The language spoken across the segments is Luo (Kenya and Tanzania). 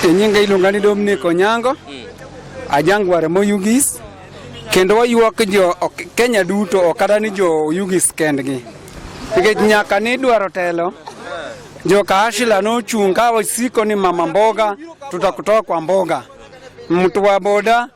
E nyinga iluonga ni Dominic Onyango, ajang ware mo Yugis, kendo wayuak jo ok- Kenya duto ok kata ni jo Yugis kendgi. Nikech nyaka ni dwaro telo, jo Kaashila nochung' ka wasiko ni mama mboga, tutakutoa kwa mboga. Mtu wa boda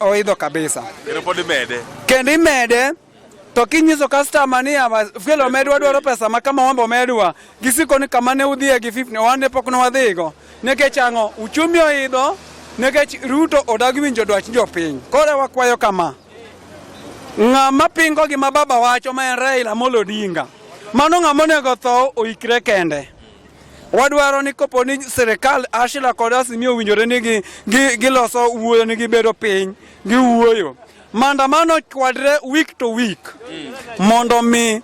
oidho kabisa kendo pod imede kendo imede to kinyiso customer ni fuel omedwa dwaro pesa ma kama wambo omedwa gisiko ni kama ne udhiye gi 50 wan ne pok ne wadhigo nikech ang'o uchumi oidho nikech Ruto odagi winjo dwach jopiny koro wakwayo kama ng'ama pingo gima baba wacho ma en Raila Amolo Odinga mano ng'ama onego tho oikre kende Wadwaro ni kopo ni sirkal Ashila kod Azimio owinjore ni giloso gi, gi wuoyo ni gibedo piny giwuoyo maandamano kwadre week to week mondo mi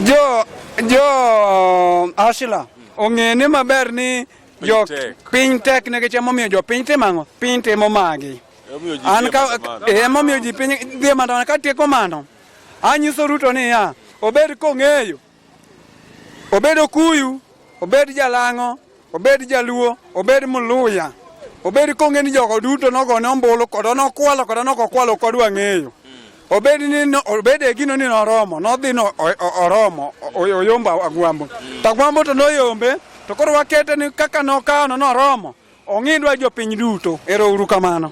jo jo Ashila ong'e ni maber ni jo piny tek ne gichemo omiyo jo piny timo ang'o piny timo magi an ka emomiyo ji piny dhi maandamano ka tieko mano anyiso Ruto niya obed kong'eyo obed Okuyu, obed Jalang'o, obed Jaluo, obed Muluya, obed konge ni jogo duto nogone ombulu kod nokwalo kod nokokwalo ok odwa ng'eyo obed ni obed e gino ni noromo nodhi no oromo oyombo agwambo to agwambo to noyombe to koro wakete ni kaka nokawono noromo ong'idwa jopiny duto ero uru kamano